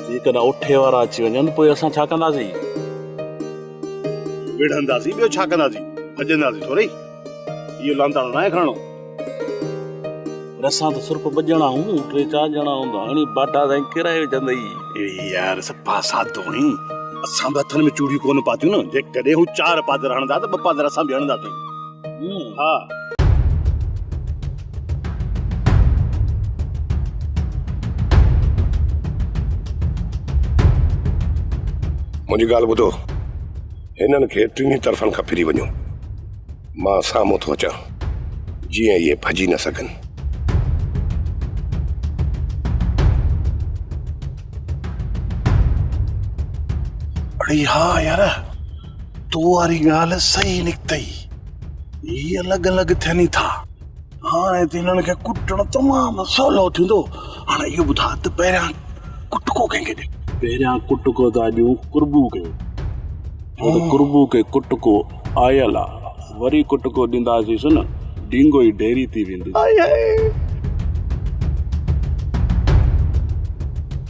جيڪڏهن اٺي وارا اچي وڃن پوء اسان ڇا ڪنداسين؟ وڙهنداسين ٻيو ڇا ڪنداسين؟ ڀڄنداسين ٿورئي؟ اهو لانتاڻو ناهي کڻڻو. پر اسان ته صرف ٻه ڄڻا آهيون، ٽي چار ڄڻا هوندا هاڻي باٽا سائين ڪيرائي وجهندئي. اڙي يار صفا سادو آهين. اسان به هٿن ۾ چوڙيون ڪونه پاتيون نه، جيڪڏهن هو چار پادر هڻندا ته ٻه پادر اسان به هڻنداسين. ها. منهنجي ڳالهه ٻڌو. هنن کي ٽنهي طرفن کان ڦري وڃو. مان سامهون ٿو اچان. جيئن اهي ڀڄي نه سگهن. اڙي ها يار. تو واري ڳالهه صحيح نڪتئي هي الڳ الڳ ٿين ئي ٿا هاڻي ته هنن کي ڪٽڻ تمام سولو ٿيندو هاڻي اهو ٻڌاء ته پهريان ڪٽڪو ڪنهن کي ڏي پهريان ڪٽڪو ته اڄون قربو ڪيو ڇو ته قربو کي ڪٽڪو آيل آ وري ڪٽڪو ڏينداسينس نه ڊينگو ئي ڍيري ٿي ويندس.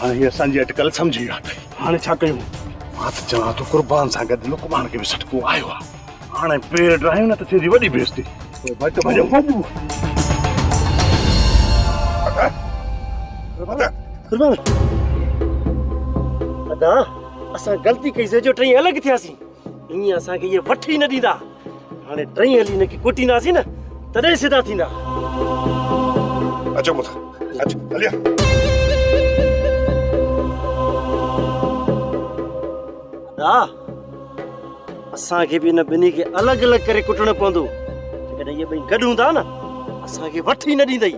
هاڻي هي اسان جي اٽڪل سمجهي ويا اٿئي. هاڻي ڇا ڪيون؟ مان ته چوان ٿو قربان سان گڏ لقمان کي به سٽڪو آيو آ. هاڻي پير ڊاهيون نه ته ٿيندي وڏي بيزتي. پوء ڀٽ ڀڄ ڀڄ. قربان. ادا اسان غلطي ڪئي سي جو ٽئي الڳ ٿياسين. ائين اسان کي اهي وٺي ئي نه ڏيندا. هاڻي ٽئين هلي هن کي ڪوٽينداسين نه، تڏهن سڌا ٿيندا. اچو پٽ، اچ هلي آ. ادا، اسان کي به هن ٻنهي کي الڳ الڳ ڪري ڪٽڻو پوندو. جيڪڏهن اهي ٻئي گڏ هوندا نه، اسان کي وٺي ئي نه ڏيندئي.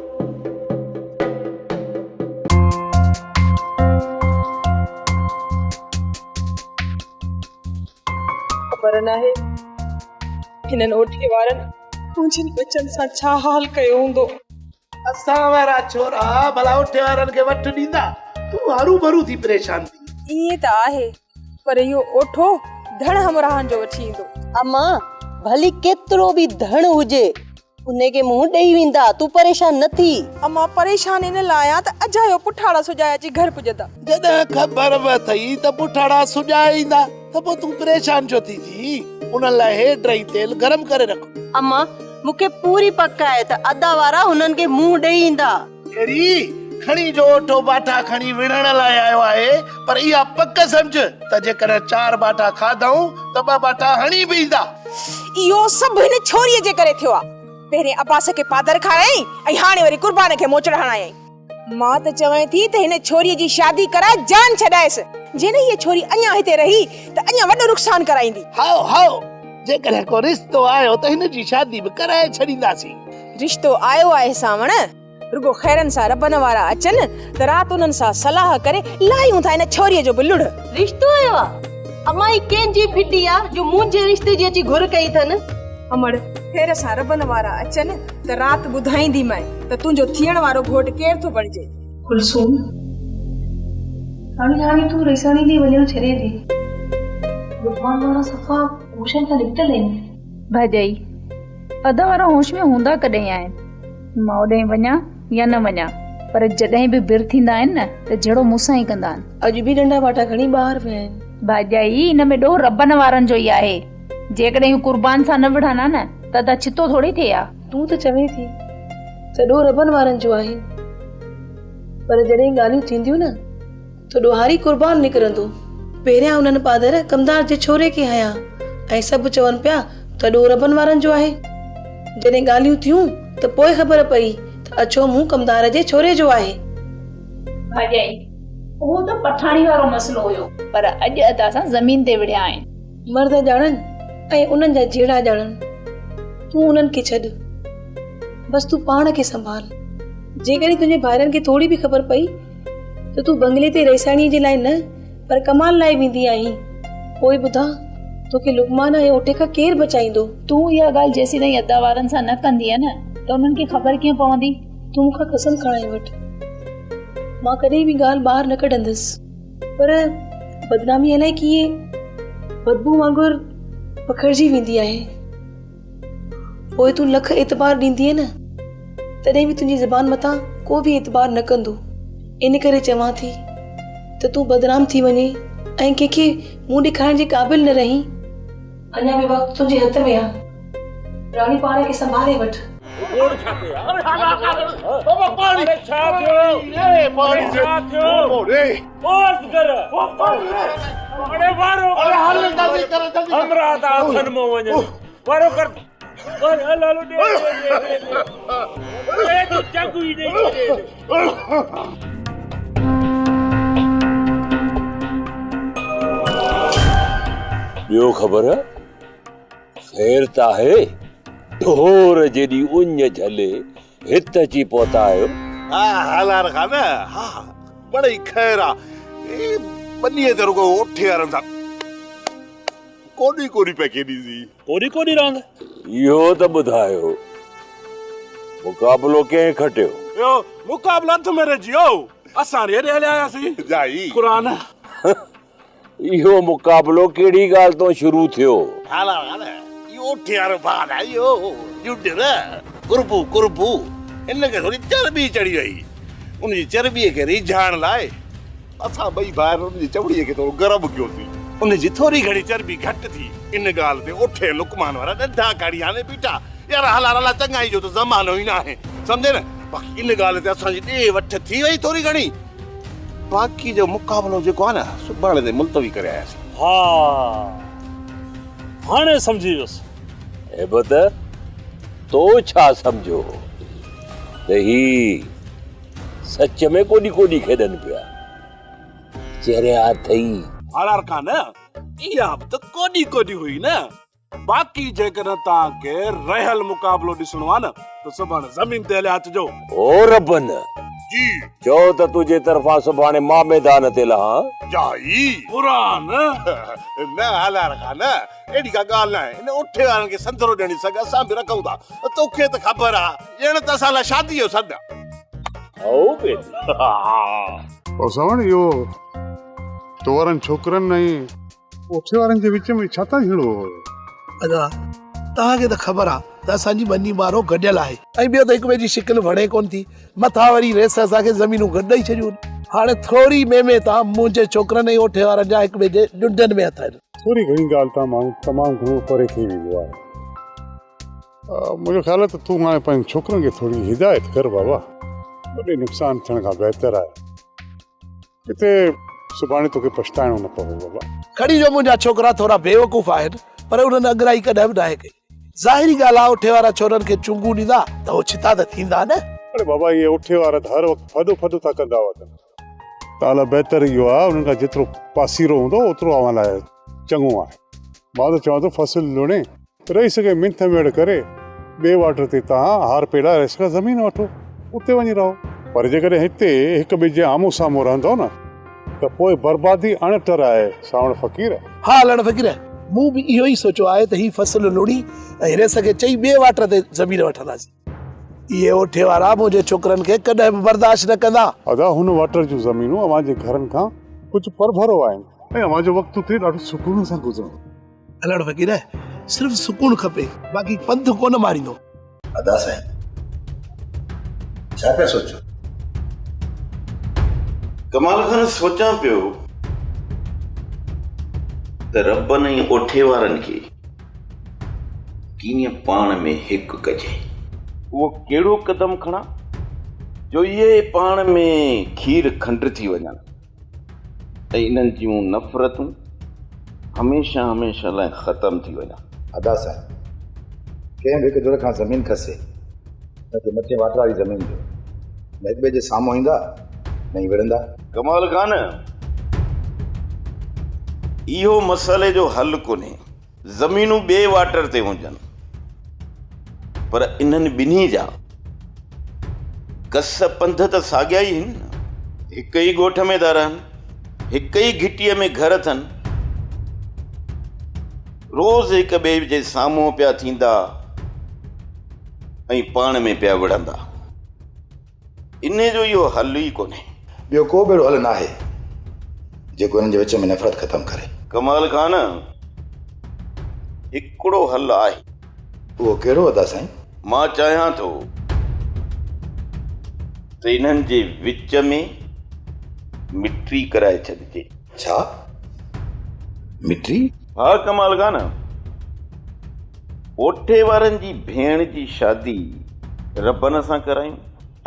خبر ناهي هنن اوٺي وارن منهنجن ٻچن سان ڇا حال ڪيو هوندو. اسان وارا ڇورا ڀلا اوٺي وارن کي وٺ ڏيندا، تون هروڀرو ٿي پريشان ٿي. ائين ته آهي پر اهو اوٺو ڌڻ همراهن جو وٺي ايندو. امان ڀلي ڪيترو به ڌڻ هجي. انهي کي منهن ڏئي ويندا، تون پريشان نه ٿي. امان، پريشان ان لاء آهيان ته اجايو پٺاڙا سجائي اچي گهر پڄندا. جڏهن خبر وٿئي ته پٺاڙا سجائي ايندا ته پوء تون پريشان ڇو ٿي جيئين؟ انهن لاء هيڊ رهي تيل گرم ڪري رک. امان، مون کي پوري پڪ آهي ته ادا وارا انهن کي منهن ڏئي ايندا. ڪيري کڻي جو اٺو باٺا کڻي وڙهڻ لاء آيو آهي پر اها پڪ سمجهه ته جيڪڏهن چار باٺا کاڌائون ته ٻه باٺا هڻي به ايندا. اهو سڀ هن ڇوريء جي ڪري ٿيو آهي. پهرين عباس کي پادر کارايائين ۽ هاڻي وري قربان کي موچڙ هڻايائين. مان ته چوان ٿي ته هن ڇوريء جي شادي ڪرائي جان ڇڏائيس. جيئن هيء ڇوري اڃا هتي رهي ته اڃا وڏو نقصان ڪرائيندي. هائو هائو، جيڪڏهن ڪو رشتو آيو ته هن جي شادي به ڪرائي ڇڏينداسين. رشتو آيو آهي سانوڻ، رڳو خيرن سان ربن وارا اچن ته رات انهن سان صلاح ڪري لاهيون ٿا ان ڇوريء جو به لڙهه. رشتو آيو آ؟ امان هي ڪنهن جي ڦٽي آ جو منهنجي رشتي جي اچي گهر ڪئي اٿن؟ امڙ، خير سان ربن وارا اچن ته رات ٻڌائينديمانء ته تنهنجو ٿيڻ وارو گهوٽ ڪير ٿو بڻجي. ڪلثوم، هاڻي هاڻي تون ريساڻي ڏي وڃڻ ڇڏي ڏي. لقمان وارا صفا هوشن کان نڪتل آهن. ڀڄئي اڌ وارا هوش ۾ هوندا ڪڏهن آهن. ماء ڏانهن وڃان يا نه وڃان پر جڏهن به بر ٿيندا آهن نه ته جهيڙو مون سان ئي ڪندا آهن. اڄ به ننڍا ٻاٽا کڻي ٻاهر ويا آهن. ڀڄئي ان ۾ ڏوهه ربن وارن جو ئي آهي. جيڪڏهن اهو قربان سان نه وڙهن ها نه ته ادا ڇتو ٿوري ٿئي ها. تون ته چوين ٿي ته ڏوهه ربن وارن جو آهن پر جڏهن ڳالهيون ٿينديون نه تو ڏوهاري قربان نڪرندو. پهريان انهن پادر ڪمدار جي ڇوري کي هنيا ۽ سڀ چون پيا ته ڏوهه ربن وارن جو آهي. جڏهن ڳالهيون ٿيون ته پوء خبر پئي ته اڇو منهن ڪمدار جي ڇوري جو آهي. ڀاڄائي، اهو ته پٺاڻي وارو مسئلو هيو. پر اڄ ادا سان زمين تي وڙهيا آهن. مرد ڄاڻن ۽ انهن جا جهيڙا ڄاڻن. تون انهن کي ڇڏ. بس تون پاڻ کي سنڀال. جيڪڏهن تنهنجي ڀائرن کي ٿوري به خبر پئي ته تون بنگلي تي رئيساڻيء جي لاء نه پر ڪمال لاء ويندي آهين. پوء ٻڌاء، توکي لقمان ۽ اوٺي کان ڪير بچائيندو؟ تون اها ڳالهه جيسيتائين ادا وارن سان نه ڪندينء نه ته انهن کي خبر ڪيئن پوندي؟ تون مون کان قسم کڻائي وٺ، مان ڪڏهن به ڳالهه ٻاهر نه ڪڍندس. پر بدنامي الائي ڪيئن بدبوء وانگر پکڙجي ويندي آهي. پوء تون لک اعتبار ڏيندينء نه، تڏهن به تنهنجي زبان مٿان ڪو به اعتبار نه ڪندو. ان ڪري چوان ٿي ته تون بدنام ٿي وڃين ۽ ڪنهن کي منهن ڏيکارڻ جي قابل نه رهين. اڃا به وقت تنهنجي هٿ ۾ آ. راڻي پاڻ کي سنڀالي وٺ. ٻيو خبر خير ته آهي؟ ڍور جيڏي اڃ جهلي هت اچي پهتا آهيو. ها هالار خان ها بڙي خير آ هي ٻنيء تي رڳو اٺي وارن سان ڪوڏي ڪوڏي پئي کيڏي سي. ڪوڏي ڪوڏي راند؟ اهو ته ٻڌايو مقابلو ڪنهن کٽيو؟ اهو مقابلو اٿ ۾ رهجي ويو اسان هيڏي هليا آياسين. جائي. قرآن. اهو مقابلو ڪهڙي ڳالهه تون شروع ٿيو؟ هالا هالا اهو اٺيار ڀار آهي اهو جوڊر قربو قربو هن کي ٿوري چرٻي چڙهي وئي ان جي چرٻي کي ريجهائڻ لاء اسان ٻئي ڀائر ان جي چمڙي کي ٿورو گرم ڪيوسين ان جي ٿوري گهڻي چرٻي گهٽ ٿي ان ڳالهه تي اٺ ۽ لقمان وارا ڏنڊا کڻي هڻي بيٺا يار هالا هالا چڱائي جو ته زمانو ئي ناهي سمجهي نه باقي ان ڳالهه تي اسان جي ڏي وٺ ٿي وئي ٿوري گهڻي باقي جو مقابلو جيڪو آهي نه سڀاڻي تائين ملتوي ڪري آياسين. ها هاڻي سمجهي ويس. هي ٻڌ تو ڇا سمجهيو هو ته هي سچ ۾ ڪوڏي ڪوڏي کيڏن پيا. چريا اٿئي. هاڻ هرکان نه اها به ته ڪوڏي ڪوڏي هئي نه. باقي جيڪڏهن توهان کي رهيل مقابلو ڏسڻو آهي نه ته سڀاڻي زمين تي هليا اچجو. او ربن! جي. چئو ته تنهنجي طرفان سڀاڻي مان ميدان تي لهان. جائي. قرآن! نه هالار خان، اهڙي ڪا ڳالهه ناهي. ان اٺي وارن کي سنڌرو ڏيڻ جي سگهه اسان به رکون ٿا. توکي ته خبر آهي. ڄڻ ته اسان لاء شاديء جو سڏ آهي. هائو بيدي! ها. او سڀاڻي اهو تورن ڇوڪرن ۽ اوٺي وارن جي وچ ۾ ڇا تان جھيڙو هو؟ ادا توهان کي ته خبر آ ته اسان جي ٻني ٻارو گڏيل آهي ۽ ٻيو ته هڪ ٻئي جي شڪل وڻي ڪونه ٿي مٿان وري ريس اسان کي زمينون گڏ ڏئي ڇڏيون هاڻي ٿوري مي مي تان منهنجي ڇوڪرن ۽ اوٺي وارن جا هڪ ٻئي جي ڏنڊن ۾ هٿ آهن. ٿوري گھڻي ڳالهه تان ماڻهو تمام گھڻو پري ٿي ويندو آهي. منهنجو خيال آهي ته تون هاڻي پنهنجن ڇوڪرن کي ٿوري هدايت ڪر بابا. وڏي نقصان ٿيڻ کان بهتر آهي. ڪٿي سڀاڻي توکي پڇتائڻو نه پوي بابا. کڙي جو منهنجا ڇوڪرا ٿورا بيوقوف آهن پر انهن اڳرائي ڪڏهن به ناهي ڪئي. ظاهري ڳالهه آ اٺي وارا ڇورن کي چونگون ڏيندا ته هو ڇتا ته ٿيندا نه. اڙي بابا اهي اٺي وارا ته هر وقت ڦڏ ڦڏ ٿا ڪندا هئا ته اعليٰ بهتر اهو آ انهن کان جيترو پاسيرو هوندو اوترو اوهان لاء چڱو آهي. مان ته چوان ٿو فصل لڻي رهي سگهي منٿ ميڙ ڪري ٻئي واٽر تي توهان هار پيلائي رهي سگهي زمين وٺو اتي وڃي رهو پر جيڪڏهن هتي هڪ ٻئي جي آمهون سامهون رهندو نه ته پوء بربادي اڻ ٽر آهي سانوڻ فقير. ها لڙ فقير مون به اهو ئي سوچيو آهي ته هي فصل لوڙهي ۽ رهي سگهي چئي ٻئي واٽر تي زمين وٺنداسين. اهي اوٺي وارا منهنجي ڇوڪرن کي ڪڏهن به برداشت نه ڪندا. ادا هن واٽر جون زمينون اوهان جي گهرن کان ڪجهه پرڀرو آهن ۽ اوهان جو وقت اتي ڏاڍو سڪون سان گذرندو. هلڻ فقير صرف سڪون کپي باقي پنڌ ڪونه ماريندو. ادا سائين ڇا پيا سوچو. ڪمال خان سوچان پيو ته ربن ۽ اوٺي وارن کي. ڪيئن پاڻ ۾ هڪ ڪجين. اهو ڪهڙو قدم کڻان، جو اهي پاڻ ۾ کير کنڊ ٿي وڃن ۽ انهن جون نفرتون هميشه هميشه لاء ختم ٿي وڃن. ادا صاحب! ڪنهن به هڪ ڌر کان زمين کسي، نه ته مٿين واٽ واري زمين جو، نه هڪ ٻئي جي سامهون ايندا، نه ئي وڙهندا. ڪمال خان! اهو مسئلي جو حل ڪونهي. زمينون ٻئي واٽر تي هجن پر انهن ٻنهي جا ڪس پنڌ ته ساڳيا ئي هن نه. هڪ ئي ڳوٺ ۾ ٿا رهن، هڪ ئي گهٽيء ۾ گهر اٿن، روز هڪ ٻئي جي سامهون پيا ٿيندا ۽ پاڻ ۾ پيا وڙهندا. انهيء جو اهو حل ئي ڪونهي. ٻيو ڪو به اهڙو حل ناهي، جيڪو انهن جي وچ ۾ نفرت ختم ڪري. ڪمال خان، هڪڙو حل آهي. اهو ڪهڙو ادا سائين؟ مان چاهيان ٿو ته انهن جي وچ ۾ مٽري ڪرائي ڇڏجي. ڇا مٽي؟ ها ڪمال خان! ڪوٺي وارن جي ڀيڻ جي شادي ربن سان ڪرايون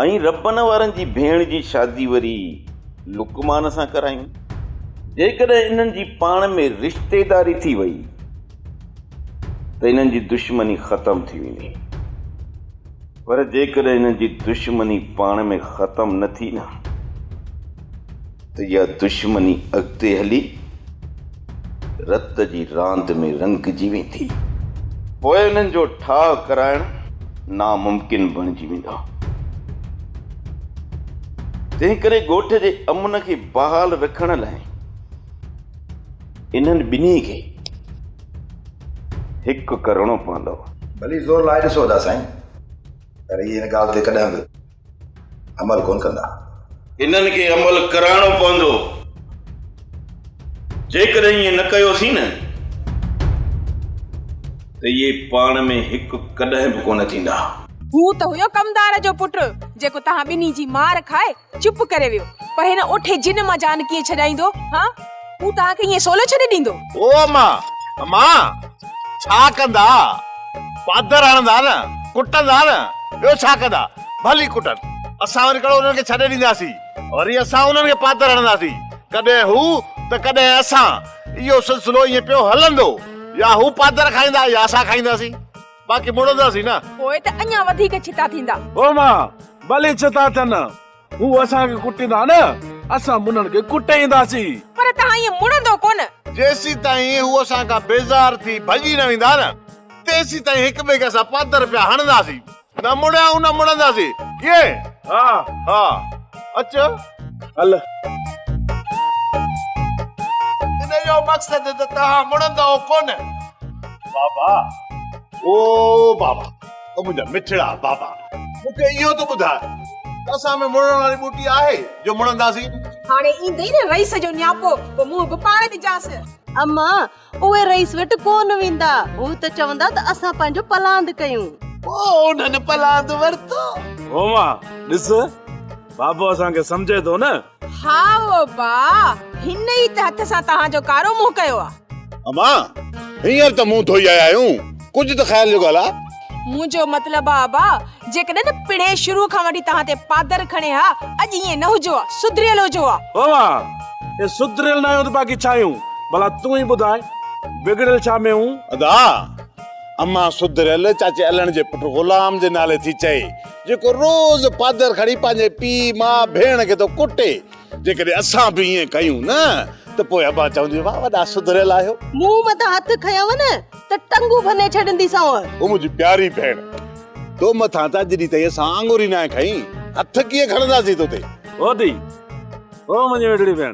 ۽ ربن وارن جي ڀيڻ جي شادي وري لقمان سان ڪرايون. جيڪڏهن انهن جي پاڻ ۾ رشتيداري ٿي وئي ته انهن جي دشمني ختم ٿي ويندي. پر جيڪڏهن انهن جي دشمني پاڻ ۾ ختم نه ٿي نه. ته اها دشمني اڳتي هلي رت جي راند ۾ رنگجي ويندي، پوء انهن جو ٺاهه ڪرائڻ ناممڪن بڻجي ويندا. تنهنڪري ڳوٺ جي امن کي بحال رکڻ لاء انهن ٻنهي کي هڪ ڪرڻو پوندو. ڀلي زور لائي ڏسو ادا سائين، پر هي ان ڳالهه تي ڪڏهن به. عمل ڪونه ڪندا. انهن کي عمل ڪرائڻو پوندو. جيڪڏهن ائين نه ڪيوسين نه ته اهي پاڻ ۾ هڪ ڪڏهن به ڪونه ٿيندا. هو ته هيو ڪمدار جو پٽ جيڪو توهان ٻنهي جي مار کائي چپ ڪري ويو پر هن اٺي جن مان جان ڪيئن ڇڏائيندو هان؟ هو توهان کي ائين سولو ڇڏي ڏيندو؟ او اما! اما! ڇا ڪندا؟ پادر هڻندا نه، ڪٽندا نه، ٻيو ڇا ڪندا؟ ڀلي ڪٽن، اسان وري ڪهڙو انهن کي ڇڏي ڏينداسين؟ وري اسان انهن کي پادر هڻنداسين، ڪڏهن هو ته ڪڏهن اسان، اهو سلسلو ائين پيو هلندو، يا هو پادر کائيندا يا اسان کائينداسين، باقي مڙنداسين نه. پوء ته اڃا وڌيڪ ڇتا ٿيندا. او اما! ڀلي ڇتا ٿين، هو اسان کي ڪٽيندا نه، اسان منھن کي ڪٽينداسين. پر توهان ائين مڙندو ڪونه. جيسيتائين هو اسان کان بيزار ٿي ڀڄي نه ويندا نه، تيسيتائين هڪ ٻئي کي اسان پادر پيا هڻنداسين. نه مڙيائون نه مڙنداسين. ڪيئن؟ ها ها اچ هل. ان جو مقصد ته توهان مڙندؤ ڪونه. بابا او بابا. او منهنجا مٺڙا بابا مون کي اهو ته ٻڌاء ته اسان ۾ مڙڻ واري ٻوٽي آهي جو مڙنداسين؟ هاڻي ايندئي نه رئيس جو نياپو پوء منهن به پاڻ ڏجانس. اما اهي رئيس وٽ ڪونه ويندا هو ته چوندا ته اسان پنهنجو پلاند ڪيون. پوء انهن پلاند ورتو. هوما ڏس بابو اسان کي سمجهي ٿو نه. هائو ابا، هن ئي ته هٿ سان توهان جو ڪارو منهن ڪيو آ. اما، هينئر ته منهن ڌوئي آيا آهيون، ڪجهه ته خيال جو ڳالهه آ. منهنجو مطلب آ ابا، جيڪڏهن پڻهين شروع کان وٺي توهان تي پادر کڻي ها، اڄ ائين نه هجو ها، سڌريل هجو ها. اما، جي سڌريل نه آهيون ته باقي ڇا آهيون؟ ڀلا تون ئي ٻڌاء، بگڙيل ڇا ۾ هون؟ ادا، اما سڌريل چاچي علڻ جي پٽ غلام جي نالي ٿي چئي. جيڪو روز پادر کڻي پنهنجي پيء، ماء، ڀيڻ کي ٿو ڪٽي. جيڪڏهن اسان به ائين ڪيون نه ته پوء ابا چوندي واهه وڏا سڌريل آهيو. مون مٿان هٿ کنيو نه ته ٽنگون ڀني ڇڏينديسانء. او منهنجي پياري ڀيڻ! تو مٿان ته اڄ ڏينهن تائين اسان آڱر ئي ناهي کنئي. هٿ ڪيئن کڻنداسين توتي. هو ڌيء! هو منهنجي ميٺڙي ڀيڻ!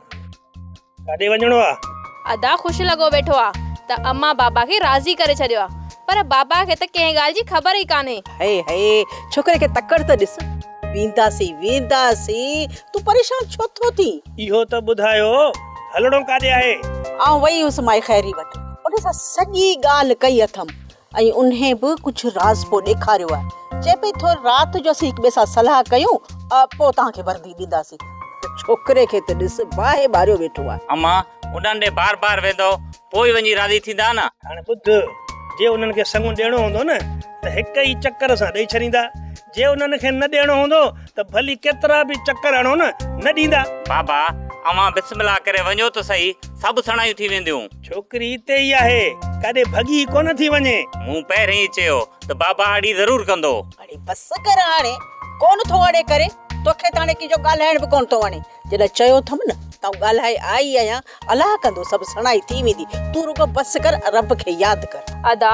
ڪاڏي وڃڻو آ؟ ادا خوش لڳو ويٺو آ ته امان بابا کي راضي ڪري ڇڏيو آ پر بابا کي ته ڪنهن ڳالهه جي خبر ئي ڪانهي. هئي هئي ڇوڪري کي تڪڙ ته ڏس. وينداسين وينداسين تون پريشان ڇو ٿو ٿين. اهو ته ٻڌايو هلڻو ڪاڏي آهي؟ آئون وئي هيس مائي خيري وٽ ان سان سڄي ڳالهه ڪئي اٿم ۽ انهي به ڪجهه راز پوء ڏيکاريو آهي. چئي پئي ٿو رات جو اسين هڪ ٻئي سان صلاح ڪيون پوء توهان کي وردي ڏينداسين. ته ڇوڪري کي ته ڏس باهه ٻاريو ويٺو آهي. اما انهن ڏي بار بار ويندؤ پوء ئي وڃي راضي ٿيندا نه. هاڻي ٻڌ، جي انهن کي سڱو ڏيڻو هوندو نه ته هڪ ئي چڪر سان ڏئي ڇڏيندا. جي انهن کي نه ڏيڻو هوندو ته ڀلي ڪيترا به چڪر هڻو نه، نه ڏيندا. بابا، اوهان بسم الله ڪري وڃو ته سهي، سڀ سڻايون ٿي وينديون. ڇوڪري اتي ئي آهي، ڪاڏي ڀڳي ڪونه ٿي وڃي. مون پهرين ئي چيو ته بابا اڙي ضرور ڪندو. اڙي بس ڪر هاڻي، ڪونه ٿو اڙي ڪري، توکي ته هاڻي ڪنهن جو ڳالهائڻ به ڪونه ٿو وڻي. جڏهن چيو اٿم نه ته آئون ڳالهائي آئي ئي آهيان، الله ڪندو سڀ سڻائي ٿي ويندي، تون رڳو بس ڪر ۽ رب کي ياد ڪر. ادا،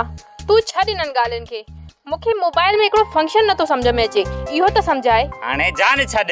تون ڇڏ انهن ڳالهين کي، مون کي موبائيل ۾ هڪڙو فنڪشن نٿو سمجهه ۾ اچي، اهو ته سمجهاء. هاڻي جان ڇڏ،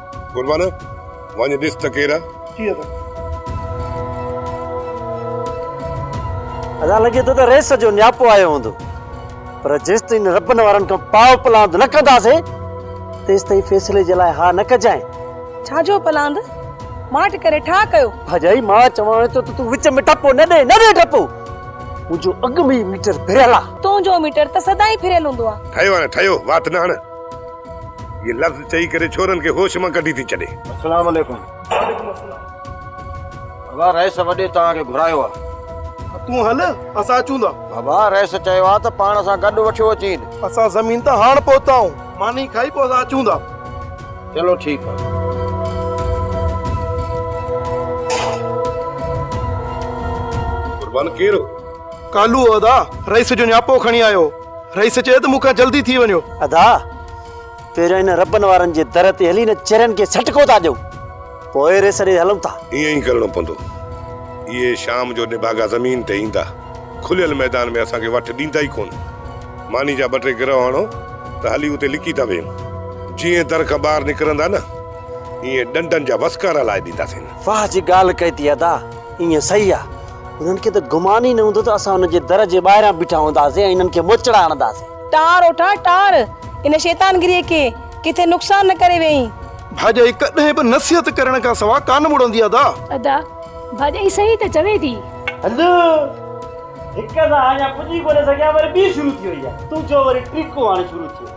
قربان وڃ ڏس ته ڪير آ. ادا لڳي ٿو ته ريس جو نياپو آيو هوندو پر جيستائين ربن وارن کان پاء پلاند نه ڪنداسين تيستائين فيصلي جي لاء ها نه ڪجانء. ڇا جو پلاند؟ ماٺ ڪري ٺاهه ڪيو. ڀاڄائي مان چوانء ٿو ته تون وچ ۾ ٽپو نه ڏي نه ڏي ٽپو. منهنجو اڳ ۾ ئي ميٽر ڦريل آ. تنهنجو ميٽر ته سدائين ڦريل هوندو آ. ٺهيو هاڻي ٺهيو وات نه هڻ. هيء لفظ چئي ڪري ڇورن کي هوش مان ڪڍي ٿي ڇڏي. السلام عليڪم. وعليڪم السلام. بابا رئيس وڏي توهان کي گهرايو آهي. ته تون هل اسان اچون ٿا. بابا رئيس چيو آهي ته پاڻ سان گڏ وٺيو اچين. اسان زمين تان هاڻ پهتا آهون. ماني کائي پوء اسان اچون ٿا. چلو ٺيڪ آهي. قربان ڪير هو؟ ڪالهو هو ادا. رئيس جو نياپو کڻي آيو هو. رئيس چيو ته مون کان جلدي ٿي وڃو. ادا پهريان ان ربن وارن جي در تي هلي ان چرين کي سٽڪو ٿا ڏيون پوء رئيس ڏي هلون ٿا. ائين ئي ڪرڻو پوندو. اهي شام جو نڀاڳا زمين تي ايندا. کليل ميدان ۾ اسان کي وٺ ڏيندا ئي ڪونه. ماني جا ٻه ٽي گرهه هڻو ته هلي اتي لڪي ٿا ويهون. جيئن در کان ٻاهر نڪرندا نه ايئن ڏنڊن جا وسڪارا لائي ڏينداسين. واهه جي ڳالهه ڪئي ٿي ادا ائين صحيح آ. انهن کي ته گمان ئي نه هوندو ته اسان انهن جي در جي ٻاهران بيٺا هونداسين ۽ انهن کي موچڙا هڻنداسين. ٽار او ٽار ٽار! ان شيطان گريء کي ڪٿي نقصان نه ڪري ويئين. ڀاڄائي ڪڏهن به نصيحت ڪرڻ کان سواء ڪانه مڙندي ادا. ادا، ڀاڄائي صحيح ته چوي ٿي. هلو! هڪ سان اڃا پڄي ڪونه سگهيا وري ٻي شروع ٿي وئي آهي. تون چئو وري ٽيڪو هاڻي شروع ٿيو.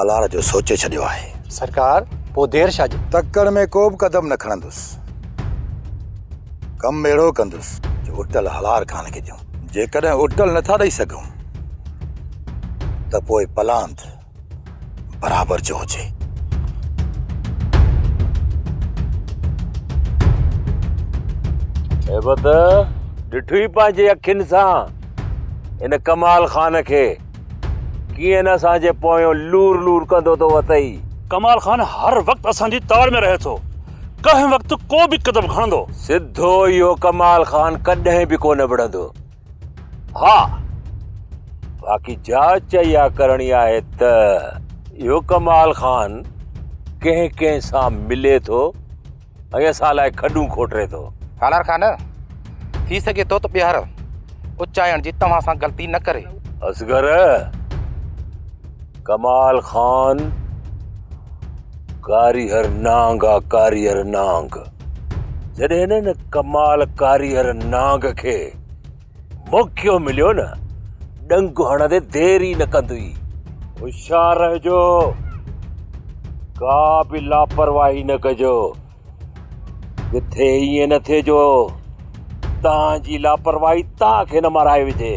آلار جو سوچي ڇڏيو آهي. سرڪار پوء دير ڇا جي. تڪڙ ۾ ڪوبه قدم نه کڻندس. ڪم اهڙو ڪندس جو اٽل هلار ڪانه ڪجون. جيڪڏهن اٽل نٿا ڏئي سگهون ته پوء پلاند برابر جو هجي. هيبت ڏٺوئي پنهنجي اکين سان ان ڪمال خان کي. ڪيئن نه اسان جي پويون لور لور ڪندو ٿو اٿئي. ڪمال خان هر وقت اسان جي تاڙ ۾ رهي ٿو. ڪنهن وقت ڪو به قدم کڻندو. سڌو اهو ڪمال خان ڪڏهن به ڪونه وڙهندو. ها باقي جاچ اها ڪرڻي آهي ته اهو ڪمال خان ڪنهن ڪنهن سان ملي ٿو. ۽ اسان لاء کڏون کوٽري ٿو. سالار خان! ٿي سگهي ٿو ته ٻيهر اچائڻ جي توهان سان غلطي نه ڪري. اصغر! ڪمال خان ڪاريهر نانگ آ ڪاريهر نانگ. جڏهن هن ڪمال ڪاريهر نانگ کي موقعو مليو نه ڏنگ هڻندي دير ئي نه ڪندئي. هوشيار رهجو، ڪا به لاپرواهي نه ڪجو. ڪٿي ائين نه ٿئي جو توهان جي لاپرواهي توهان کي نه مارائي وجهي.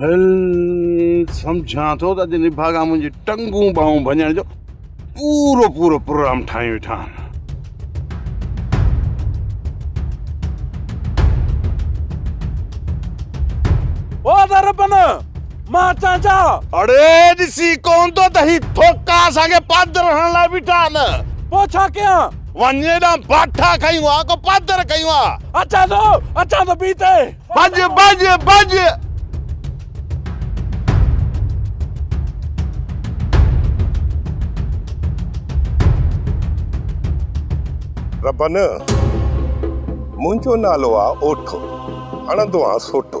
ڀل سمجهان ٿو ته اڄ نڀاڳا منهنجي ٽنگون ٻانهون ڀڃڻ جو پورو پورو پروگرام ٺاهي ويٺا آهن اڙي ڏسي ڪون ٿو ته هي ٿوڪا اسان کي پاڌر هڻڻ لاء بيٺا آهن پوء ڇا ڪيان وڃ ڏانهن باٺا کئي وا ڪو پادر کئي وا. اچان ٿو اچان ٿو پي تي. ڀڄ ڀڄ ڀڄ. ربن منهنجو نالو آ اوٺو هڻندو آ سوٽو.